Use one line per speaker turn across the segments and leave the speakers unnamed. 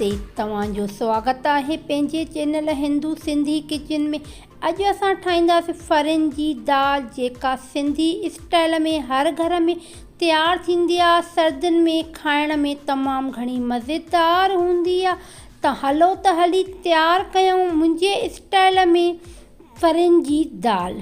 نمستي توهان جو سواگت آهي پنهنجي چينل هندو سنڌي ڪچن ۾ اڄ اسان ٺاهينداسين ڦرين جي دال جيڪا سنڌي اسٽائل ۾ هر گهر ۾ تيار ٿيندي آهي سردين ۾ کائڻ ۾ تمام گهڻي مزيدار هوندي آهي ته هلو ته هلي تيار ڪيون منهنجي اسٽائل ۾ ڦرين جي دال.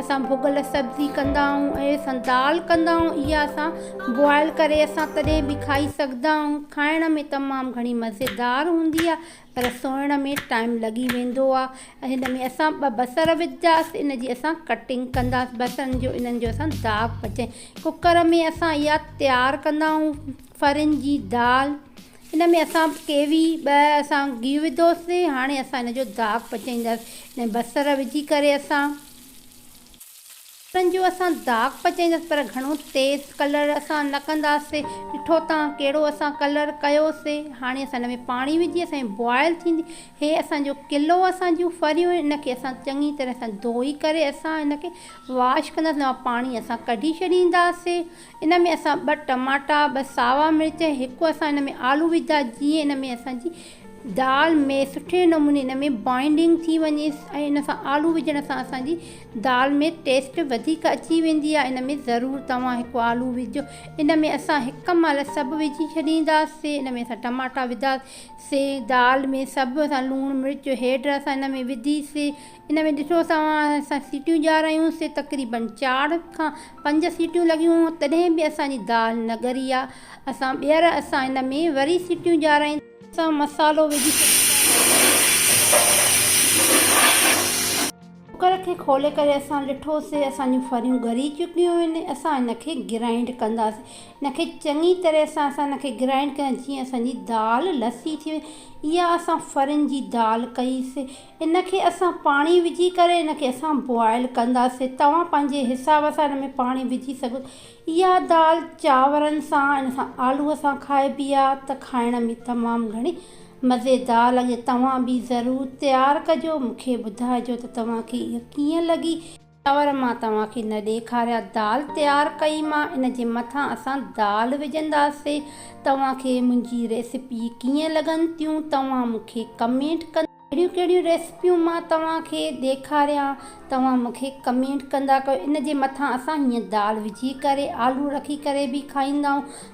اسان ڀڳل سبزي ڪندا آهيون ۽ اسان دال ڪندا آهيون اها اسان بوائل ڪري اسان تڏهن به کائي سگهدا آهيون کائڻ ۾ تمام گهڻي مزيدار هوندي آهي پر سوئڻ ۾ ٽائيم لڳي ويندو آهي هن ۾ اسان ٻه بصر وجهنداسين ان جي اسان ڪٽنگ ڪنداسين بصرن جو انهن جو اسان داغ پچائي ڪڪر ۾ اسان اها تيار ڪندا آهيون ڦرن جي دال ان ۾ اسان ڪيوي ٻه اسان گيهه وڌوسي هاڻي اسان ان جو داغ پچائينداس ان ۾ بصر وجهي ڪري اسان بصرن جو اسان داغ پچائينداس پر گهڻو تيز ڪلر اسان نه ڪنداسي ڏٺو تان ڪهڙو اسان ڪلر ڪيوسي هاڻي اسان ان ۾ پاڻي وجهي اسان جي بوائل ٿيندي هي اسان جو ڪلو اسان جون ڦريون ان کي اسان چڱي طرح سان ڌوئي ڪري اسان ان کي واش ڪنداسي ان مان پاڻي اسان ڪڍي ڇڏينداسي ان ۾ اسان ٻه ٽماٽا، ٻه ساوا مرچ ۽ هڪ اسان ان ۾ آلو وجھدا جيئن ان ۾ اسان جي دال ۾ سٺي نموني ان ۾ بائنڊنگ ٿي وڃي ۽ ان سان آلو وجھڻ سان اسان جي دال ۾ ٽيسٽ وڌيڪ اچي ويندي آهي ان ۾ ضرور توهان هڪ آلو وجھجو ان ۾ اسان هڪ مهل سڀ وجھي ڇڏينداسي ان ۾ اسان ٽماٽا وڌا سي دال ۾ سڀ اسان لوڻ مرچ هيڊ اسان ان ۾ وڌي سي ان ۾ ڏسو توهان اسان سيٽيون ڄار آهيون سي تقريباً چار کان پنج سيٽيون لڳيون تڏهن به اسان جي دال نه ڳري آ اسان ٻيهر اسان ان ۾ وري سيٽيون ڄارائينداسين. اسان مصالحو وجهي ڇڏينداسين. ڪوڪر کي کولي ڪري اسان ڏٺو سي اسان جون ڦريون ڳري چڪيون آهن اسان ان کي گرائنڊ ڪنداسين ان کي چڱي طرح سان اسان ان کي گرائنڊ ڪنداسين جيئن اسان جي دال لسي ٿي وڃي اها اسان ڦرين جي دال ڪئي سي ان کي اسان پاڻي وجهي ڪري ان کي اسان بوائل ڪنداسين توهان پنهنجي حساب سان ان ۾ پاڻي وجهي سگهو اها دال چانورن سان ان سان آلو سان کائبي آ ته کائڻ ۾ تمام گهڻي مزيدار لڳي توهان به ضرور تيار ڪجو مونکي ٻڌائجو ته توهان کي اها ڪيئن لڳي. چانور مان توهان کي نه ڏيکاريا دال تيار ڪئي مان ان جي مٿان اسان دال وجهنداسي توهان کي منهنجي ريسپي ڪيئن لڳن ٿيون توهان مون کي ڪمينٽ ڪندا ڪهڙيون ڪهڙيون ريسپيون مان توهان کي ڏيکاريان توهان مون کي ڪمينٽ ڪندا ڪيو ان جي مٿان اسان هيئن دال وجهي ڪري آلو رکي ڪري به کائيندائون.